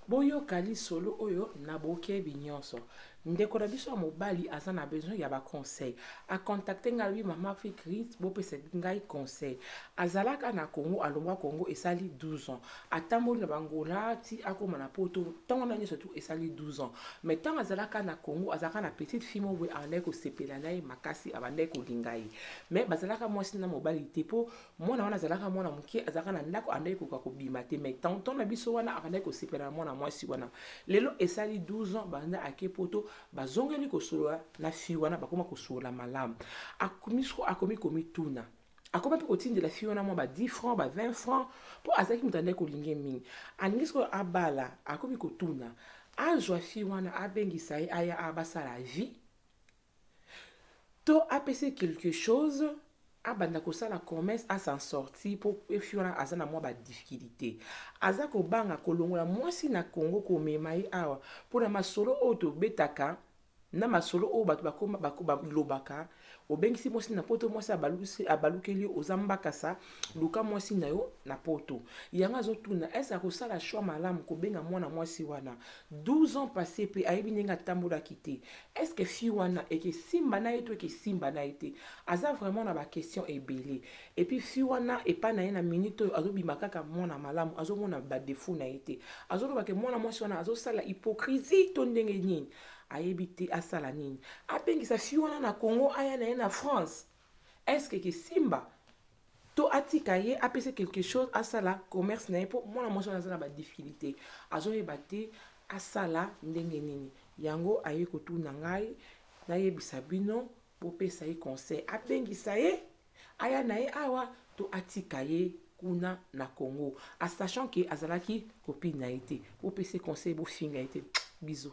Boyoka lisolo oyo na bokebi nionso. Ndeko na biso ya mobali aza na besoin ya ba conseils. A contacter ngai alobi maman Africrit bopesa ngai conseil. Azalaka na Congo, alongwa Congo esali 12 ans. Atamboli na b'Angola ti akoma na poto, tango na nionso tout esali 12 ans. Mais tango azalaka na Congo, azalaka na petite fille moko boye abandaki kosepela na ye makasi, abandaki kolinga ye. Mais bazalaka mwasi na mobali te po mwana wana azalaka mwana moke azalaka na ndako andaki koka kobima te mai tanton na biso wana abandaki kosepela na mwana mwasi wana lelo esali 12 ans banda ake poto bazongeli kosolola na fille wana bakoma kosolola malamu akomisko akomi komituna akomi mpe kotindela fille wana mwa ba 10 francs ba 20 francs mpo azalaki moto andaki kolinge mingi alingi sikoyo abala akomi kotuna azwa fille wana abengisa ye aya abasala vie To apesa ye quelque chose abanda kosala commerce a s'en sortir po efi wana aza na mwa ba difficulite. Aza kobanga kolongola mwasi na Congo komema ye awa po na masolo oyo tobetaka na masolo oyo bato bakoma bako balobaka obengisi mwasi na poto mwasi abalukisi abalukeli yo oza mbakasa luka mwasi na yo na poto. Yango azotuna est-ce akosala choix malamu kobenga mwana mwasi wana 12 ans passe pe ayebi ndenge atambolaki te est ce que fille wana ekesimba na ye to ekesimba na ye te aza vraiment na baquestion ebele epuis fille wana epai na ye na minute oyo azobima kaka mwana malamu azomona badefaut na ye te azoloba ke mwana mwasi wana azosala hypocrisie to ndenge nini ayebi te asala nini abengisa fille wana na congo aya na ye na france Est-ce que ke Simba to atika ye apesa quelque chose asala commerce na ye mpo mwana mwasi wana aza na ba difficulté azoyeba te asala ndenge nini yango aye kotuna ngai nayebisa bino bopesa ye conseil abengisa ye aya na ye awa to atika ye kuna na congo a sachant ke azalaki copine na ye te bopesa ye conseil bofinga ye te bizo